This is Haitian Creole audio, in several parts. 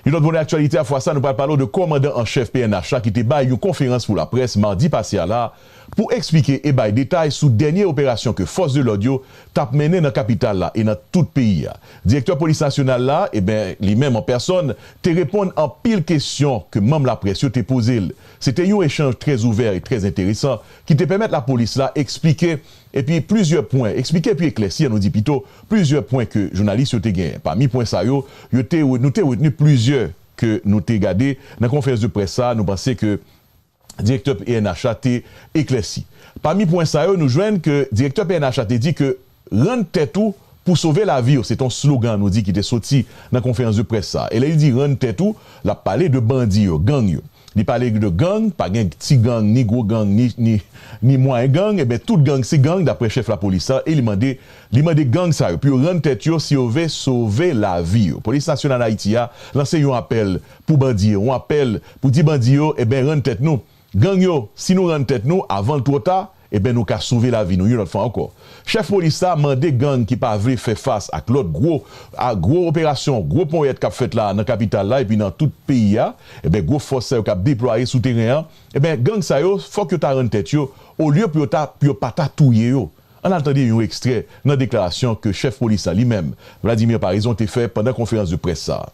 Yon lòt volè aktyalite a fwa sa nou pral pale w de kòmandan an chèf pnh la ki te bay yon konferans pou laprès madi pase a la pou eksplike e bay detay sou dènye operasyon ke fòs de lòd yo tap mennen nan kapital la e nan tout peyi a. Direktè polis nasyonal la eben li menm an pèsòn te reponn anpil kesyon ke manm laprès yo te poze l. Se te yon echanj trè ouvè e trè enteresan ki te pèmèt lapolis la eksplike Epi plizyè pwen, eksplike epi eklèsi an nou di pito, plizyè pwen ke jounalis yo te genyen. Pami pwen sa yo, yo te, nou te retni plizyè ke nou te gade nan konferans de près sa a nou panse ke Direktè pnh la te eklèsi. Pami pwen sa yo nou jwenn ke Direktè pnh la te di ke Rann tèt ou pou sove lavi w se te yon slogan nou di ki te soti nan konferans de près sa a. E lè li di rann tèt ou, l ap pale de bandi yo, gang yo. Li pale de gang, pa gen ti gang, ni gwo gang, ni mwayen gang, enben tout gang se gang daprè chèf lapolis la e li mande li mande gang sa yo pou yo rann tèt yo si yo ve sove lavi yo. Polis Nasyonal Ayiti a lanse yon apèl pou bandi yo, yon apèl pou di bandi yo, enben rann tèt nou, gang yo, si nou rann tèt nou avan l twò ta, Eben nou ka sove lavi nou yon lòt fwa ankò. Chèf polis la mande gang ki pa vle fè fas ak lòt gwo a gwo operasyon, gwo ponyèt k ap fèt la nan kapital la epi nan tout peyi a, eben gwo fòs sa yo k ap deplwaye sou teren an, eben gang sa yo fòk yo ta rann tèt yo olye pou yo ta pou yo pa ta touye yo. Ann al tande yon ekstrè nan deklarasyon ke chèf polis la li menm, Vladimir Paraison te fè pandan konferans de près sa a.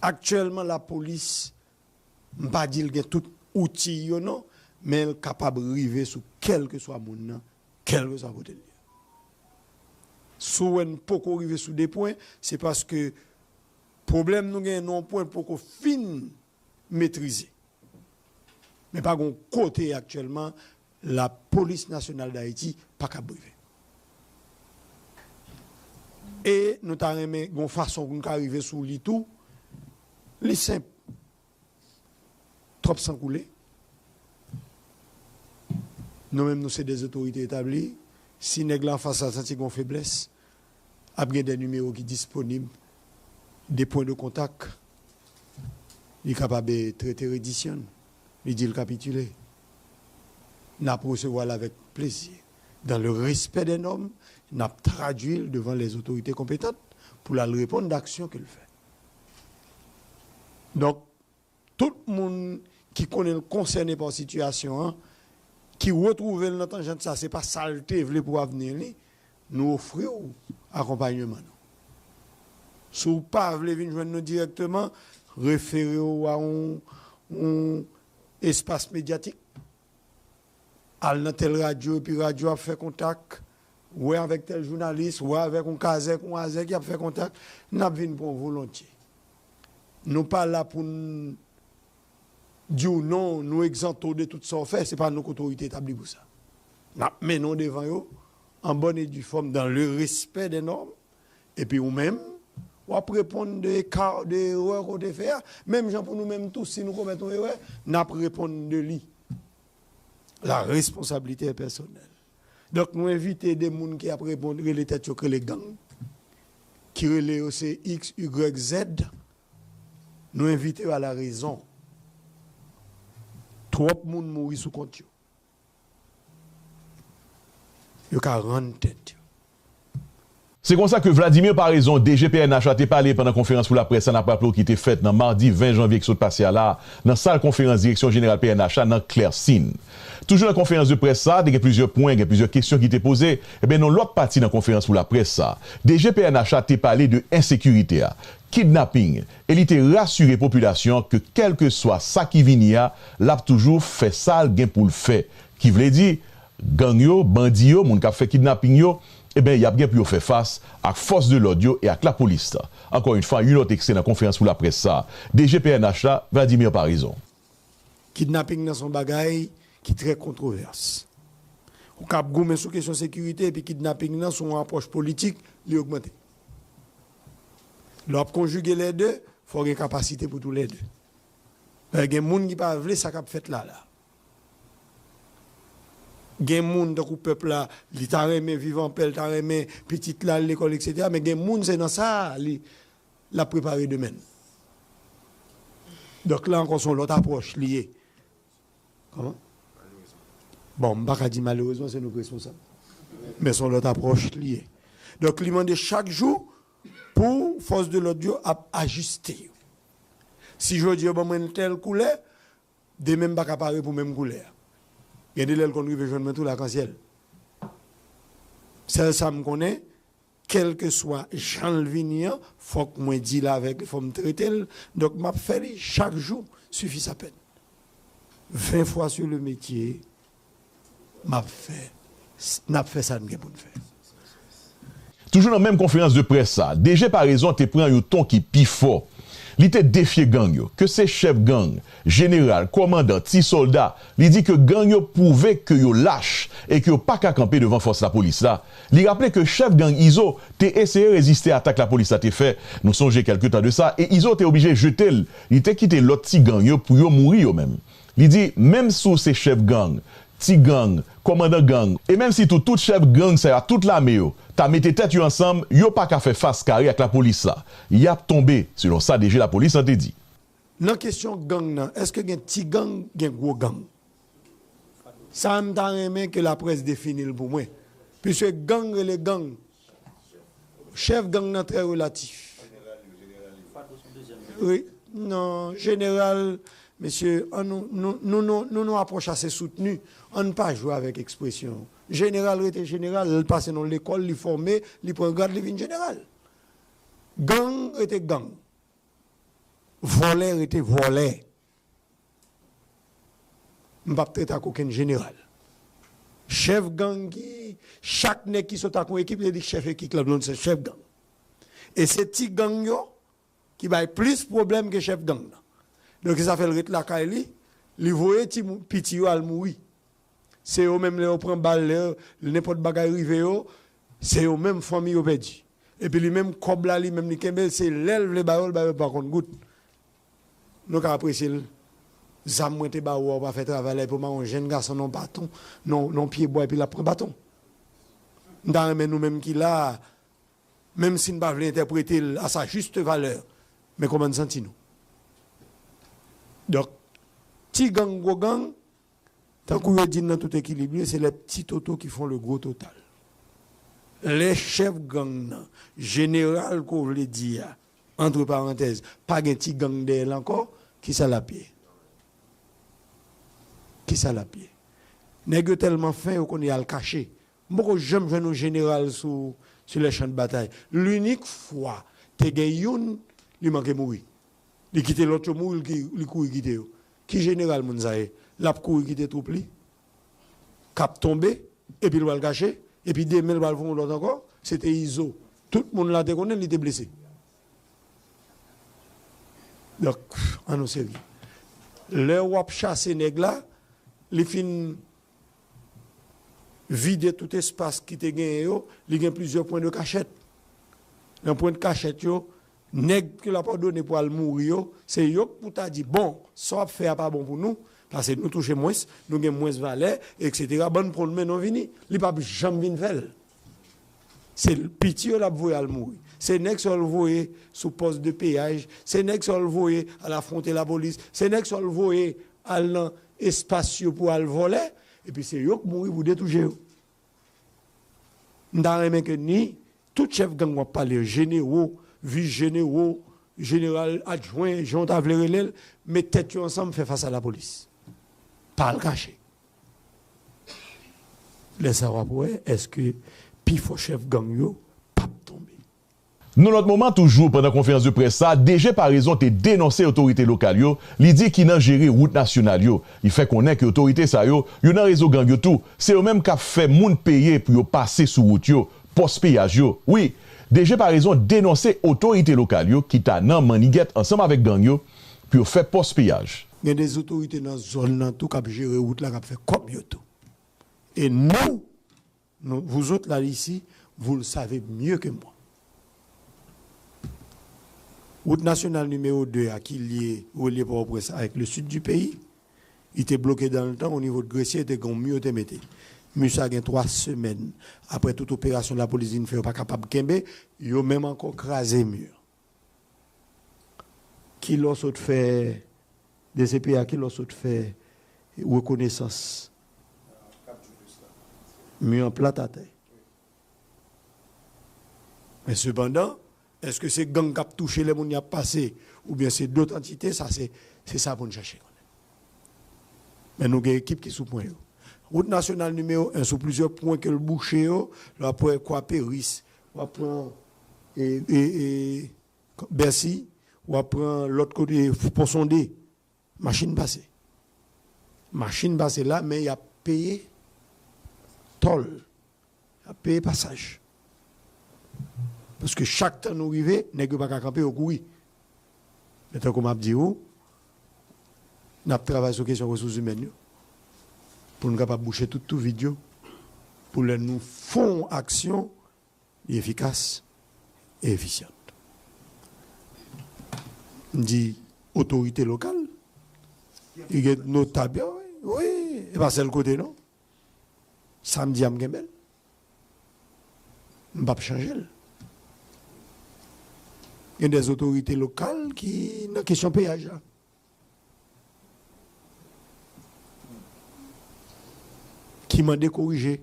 Aktyèlman lapolis M pa di l gen tout outi yo non, men l kapab rive sou kèlkeswa moun nan, kèlkeswa kote l ye. Si w wè n poko rive sou 2 pwen, se paske pwoblèm nou genyen nan yon pwen poko fin metrize. Men pa gen yon kote aktyèlman La police nationale d'Haiti paka brive. E nou ta renmen gon fason pou nou ka rive sou li tou. Li senp. Twòp san koule. Nou menm nou se de zotorite etabli. Si nèg la anfas la santi gon feblès, ap gen de nimewo ki disponib, de pwen de kontak. Li kapab trete redisyon li, li di l kapitile. nap resevwa l avèk plezi. Dan le respè dè nòm, nap tradui l devan lè zotorite konpetant pou l al reponn dè aksyon ke l fè. Donk, tout moun ki konnen l konsène pa sitiyasyon an, ki retwouve l nan tanjant sa, se pa sa l te vle pou avni li, nou ofri w akonpanyeman nou. Si w pa vle vin jwenn nou dirèkteman, refere w a yon Espas medyatik, Al nan tèl radyo epi radyo ap fè kontak, wè avèk tèl jounalis, wè avèk yon kazèk, yon azèk y ap fè kontak, n ap vin pran w volontye. Nou pa la pou n di w non, nou egzante w de tout sa w fè, se pa nou k'otorite etabli pou sa. N ap mennen w devan yo an bòn e di fòm, dan le respè dè nòm, Epi ou menm, w ap reponn de eka, de erè ke w te fè a, menm jan pou nou menm tou, si nou komèt yon erè, n ap reponn de li. La responsabilité est personnelle. Donk nou envite de moun ki ap reponn, rele tèt yo, ki rele gang, ki rele yo se X, Y, Z, nou envite yo a la rezon. Twòp moun mouri sou kont yo. yo ka rann tèt yo. Se konsa ke Vladimir Paraison, DG pnh la te pale pandan konferans pou laprès la n ap raple w ki te fèt nan madi 20 janvye ki sot pase a la a nan sal konferans direksyon jeneral pnh la nan Clercine. Toujou nan konferans de près sa a te gen plizyè pwen, gen plizyè kesyon ki te poze. Enben nan yon lòt pati nan konferans pou laprès sa a, DG pnh la te pale de ensekirite a, kidnaping, e li te rasire popilasyon an ke kèlkeswa sa ki vini a, l ap toujou fè sa l gen pou l fè, ki vle di, gang yo, bandi yo, moun k ap fè kidnaping yo, eben y ap gen pou yo fè fas ak fòs de lòd yo e ak lapolis. Ankò yon fwa, yon lòt ekstrè nan konferans pou laprès sa a, DG pnh la, Vladimir Paraison. Kidnaping nan se yon bagay ki trè kontwovès. Ou ka ap goumen sou kesyon sekirite epi kidnaping nan sou yon apwòch politik, li ogmante. Lè w ap konjige lè de, fò w gen kapasite pou tou lè de. Dayè gen moun ki pa vle sa k ap fèt la la. Gen moun tankou pèp la, li ta renmen viv anpè, li ta renmen pitit la al lekòl eksetera men gen moun se nan sa a li l ap prepare demen l. Donk la ankò se yon lòt apwòch li ye. Bon, m pa ka di malerezman, se nou k responsab. Men s on lòt apwòch li ye. Donk li mande chak jou pou fòs de lòd yo ap ajiste yo. Si jodi yo ban mwen yon tèl koulè, demen m pa ka pare pou menm koulè a. Gen de lè l konn rive jwenn mwen tou lakansyèl. Sèl sa m konnen, Kèlkeswa jan l vini an, fòk mwen dil avèk li, fòk m trete l, donk m ap fè li chak jou sifi sa pèn. Ven fwa su le metye, m ap fè, n ap fè sa n gen pou n fè. Toujou nan menm konferans de près sa, DG Paraison te pran yon ton ki pi fò. Li te defye gang yo, ke se chèf gang, jeneral, kòmandan, ti sòlda, li di ke gang yo pwouve ke yo lach e ke yo pa ka kanpe devan fòs lapolis la, Li raple ke chèf gang Izo te eseye reziste atak lapolis la te fè, nou sonje kèlke tan de sa, e Izo te oblije jete l, li te kite lòt ti gang yo pou yo mouri yo menm. Li di, menm si w se chèf gang, ti gang, kòmandan gang, e menm si tou tout chèf gang sa yo ak tout lame yo ta mete tèt yo ansanm, yo pa ka fè fas kare ak lapolis la, y ap tonbe, selon sa DG lapolis lan te di. Nan kesyon gang nan, èske gen ti gang, gen gwo gang? Sa m ta renmen ke la près defini l pou mwen. Piske gang rele gang. Chèf gang nan trè relatif. Wi. Non, jeneral, mesye, an nou, nou, nou nou, nou nou apwòch ase soutni. An n pa jwe avèk ekspresyon. Jeneral rete jeneral. Lè l pase nan yon lekòl, li fòme, li pran grad, li vin jeneral. Gang rete gang. Vòlè rete vòlè. M pap trete ak okenn jeneral. Chèf gang ki, chak nèg ki sot ak yon ekip li di chèf ekik la done se chèf gang. E se ti gang yo ki bay plis pwoblèm ke chèf gang nan. Donk sa fè l ret lakay li, li voye ti moun, piti yo al mouri. Se yo menm lè yo pran bal, lè nenpòt bagay rive yo, se yo menm fanmi yo pèdi. Epi li menm kòb la li menm li kenbe l, se lè l vle ba yo l ba yo pa kont goud. Nou ka apresye l. Zam mwen te ba ou a ou pa fè travay la epi ou mare yon jenn gason nan yon baton, nan yon pye bwa epi l ap pran baton. M ta renmen nou menm ki la a, menm si n pa vle entèprete l a sa juste valeur, men kòman n santi nou? Donk, ti gang, gwo gang, tankou yo di n nan tout ekilib li, se les petits totaux qui font le gros total. Lè chèf gang nan, jeneral ke w vle di a, Antre parantèz, pa gen ti gang dèyè l ankò, ki sa l ap ye? Ki sa l ap ye? Nèg yo tèlman fen, yo konn y al kache. M poko janm jwenn yon jeneral sou sur les champs de bataille. Linik fwa te gen youn, li manke mouri. Li kite lòt yo mouri, li kouri kite yo. Ki jeneral moun sa ye? L ap kouri kite twoup li? kap tonbe epi l pral kache epi demen l pral fè yon lòt ankò se te izo tout moun la te konnen li te blese donk an nou serye lè wap chase nèg la li fin vide tout espas ki te genyen yo li gen plizyè pwen de kachèt nan pwen de kachèt yo. Nèg ke lap òdone pou al mouri yo, se yo k pou ta di bon, sa wap fè a pa bon pou nou, pase nou touche mwens, nou gen mwens valè, eksetera, bann pran men nou vini. Li pap janm vin fè l. Se piti yo lap voye al mouri. Se nèg sa yo l voye sou pòs de peyaj, se nèg sa yo l voye al afwonte lapolis, se nèg sa yo l voye al nan espas yo pou al vòlè, epi se yo k mouri pou de tou je yo. M ta renmen ke ni tout chèf gang w ap pale yo, jenero, vis jenero, jeneral adjwen, jan w ta vle rele l, met tèt yo ansanm fè fas a lapolis. Pa al kache. Lè sa a w ap wè èske pifò chèf gang yo p ap tonbe. Nan lòt moman toujou pandan konferans de près sa, DG Paraison te denonse otorite lokal yo li di ki nan jere wout nasyonal yo. Li fè konnen ke otorite sa yo, yo nan rezo gang yo tou, se yo menm kap fè moun peye pou yo pase sou wout yo, pòs peyaj yo. Wi, DG Paraison denonse otorite lokal yo ki ta nan mannigèt ansanm avèk gang yo pou yo fè pòs peyaj. Gen de zotorite nan zòn nan tou kap jere wout la kap fè kòb yo tou. E nou? Non vous autres là ici vous le savez mieux que moi Wout nasyonal nimewo 2 a ki lye relye Pòtoprens avèk le Sud du peyi li te bloke dan le tan o nivo de Gresye te gen yon mi yo te mete. Mi sa gen 3 semèn aprè tout operasyon lapolis vin fè yo pa kapab kenbe yo menm ankò kraze mi an. Kilè w sot fè dcpa? Kilè w sot fè rekonesans mi an plat atè? Men sepandan, èske se gang k ap touche lè moun y ap pase oubyen se dot antite? Sa se se sa pou n chèche konnen. Men nou gen ekip ki sou pwen yo. Wout nasyonal nimewo 1, sou plizyè pwen ke l bouche yo, lè w ap pran Ekwaperis, w ap pran Bercy wap pran lot kote pon sonde machine pase machine pase la men yap peye tol yap peye pasaj paske chak tan nou rive neg yo paka kanpe yo kouri men tankou map di ou nap travay sou kesyon resous imèn yo poun kapab bouche tout tou vid yo pou lè nou fon aksyon Li efikas e efisyan. M di otorite lokal ki gen notab yo wi, wi e pa sèl kote non. Sa m di a m genbe l. M pap chanje l. Gen dè otorite lokal ki nan kesyon peyaj la. Ki mande korije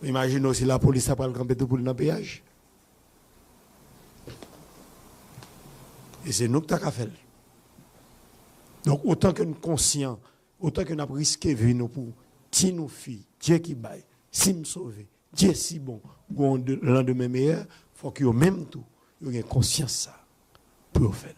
Imajine w si lapolis ta pral kanpe tou poul nan peyaj. E se nou ki ta ka fè l. Donk otan ke n konsyan, otan ke n ap riske vi nou pou ti nou fi, Dye ki bay, si m sove, Dye si bon, gon landemen meyè, fòk yo menm tou, yo gen konsyans sa. pou yo fè l.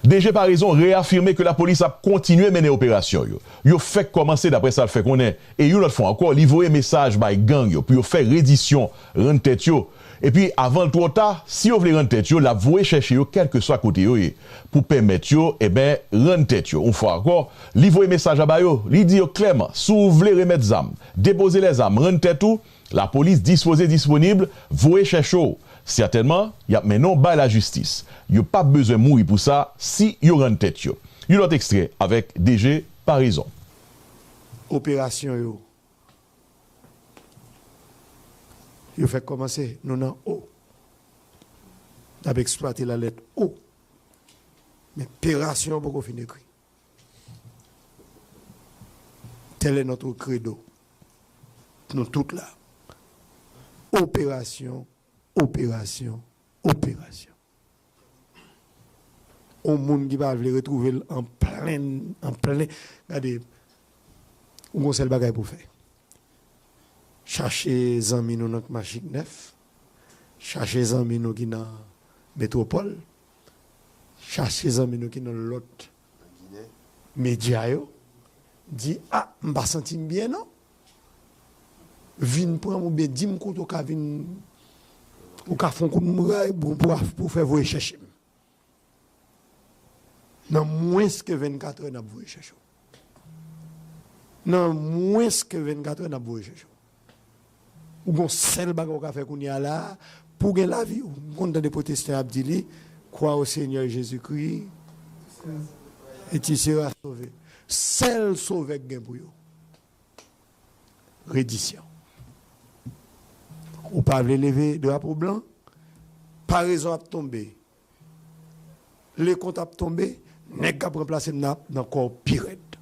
DG Paraison reyafime ke lapolis ap kontinye mennen operasyon yo. Yo fèk kòmanse daprè sa l fè konnen e yon lòt fwa ankò li voye mesaj bay gang yo pou yo fè redisyon, rann tèt yo. Epi avan l twò ta, si yo vle rann tèt yo l ap voye chèche yo kèlkeswa kote yo ye pou pèmèt yo eben rann tèt yo. Yon fwa ankò li voye mesaj la ba yo, li di yo klèman si w vle remèt zam, depoze lèzam, rann tèt ou. Lapolis dispoze disponib, voye chèche w. Sètènman, y ap mennen w bay lajistis. Yo p ap bezwen mouri pou sa si yo rann tèt yo. Yon lòt ekstrè avèk DG Paraison. Operasyon yo Yo fèk kòmanse, nou nan O. N ap eksplwate la lèt O. Men perasyon an poko fin ekri. Tel est notre credo nou tout la operasyon operasyon operasyon yon moun ki pa vle retrouve l an plen an plen gade ou gon sèl bagay pou fè chache zanmi nou nan kmachik nèf chache zanmi nou ki nan metropole. chache zanmi nou ki nan lòt medya yo di a m pa santi m byen non vin pran m oubyen di m kote w ka vin ou ka fon kout pou w fè voye chèche m nan mwens ke 24 è n ap voye chèche w. Nan mwens ke 24 è nap voye Jojo. Ou gon sèl bagay ou ka fè kounye a la a pouw gen lavi ou m konn tande pwotestan ap di li Crois au Seigneur Jésus Christ et tu seras sauvé sèl sovè k gen pou yo Redisyon Ou pa vle leve drapo blan Parezon ap tonbe Le kont ap tonbe nèg kap ranplasem nan ap nan kòw pi rèd.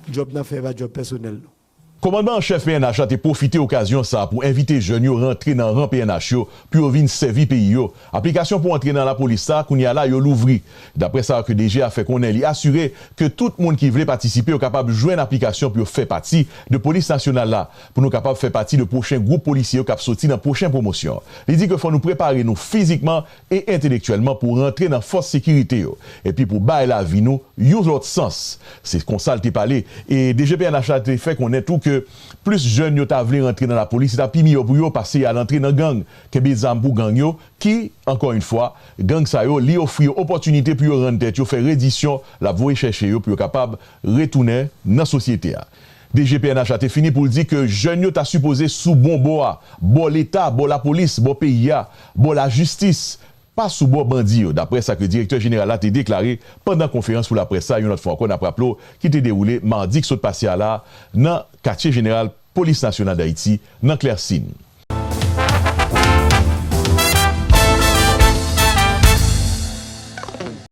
Djòb nan fè pa djòb pèsonèl nou. Kòmandman an chèf pnh la te pwofite okazyon sa pou envite jèn yo rantre nan ran pnh yo pou yo vin sèvi peyi yo. Aplikasyon pou antre nan lapolis sa kounya la yo louvri. Daprè sa ke DG a fè konnen li asire ke tout moun ki vle patisipe yo kapab jwenn aplikasyon pou yo fè pati de polis nasyonal la. pou nou kapab fè pati de pwochen gwoup polisye yo k ap soti nan pwochen pwomosyon. Li di ke fò nou prepare nou fizikman e entelektyèlman pou rantre nan fòs sekirite yo, epi pou bay lavi nou yon lòt sans. Se konsa l te pale. E DG pnh la te fè konnen tou ke plis jèn yo ta vle rantre nan lapolis, se ta pi miyò pou yo pase y al antre nan gang, kenbe zam pou gang yo, ki, ankò yon fwa, gang sa yo, li ofri yo opòtinite pou yo rann tèt yo, fè redisyon, l ap voye chèche yo pou yo kapab retounen nan sosyete a. DG pnh la te fini pou l di ke jèn yo ta sipoze sou bon bò a, bò leta, bò lapolis, bò peyi a, bò lajistis, pa sou bò bandi yo, daprè sa ke direktè jeneral la te deklare pandan konferans pou laprès sa yon lòt fwa ankò n ap raple w ki te dewoule madi k sot pase a la nan katye jeneral Polis Nasyonal Dayiti nan Klèsin.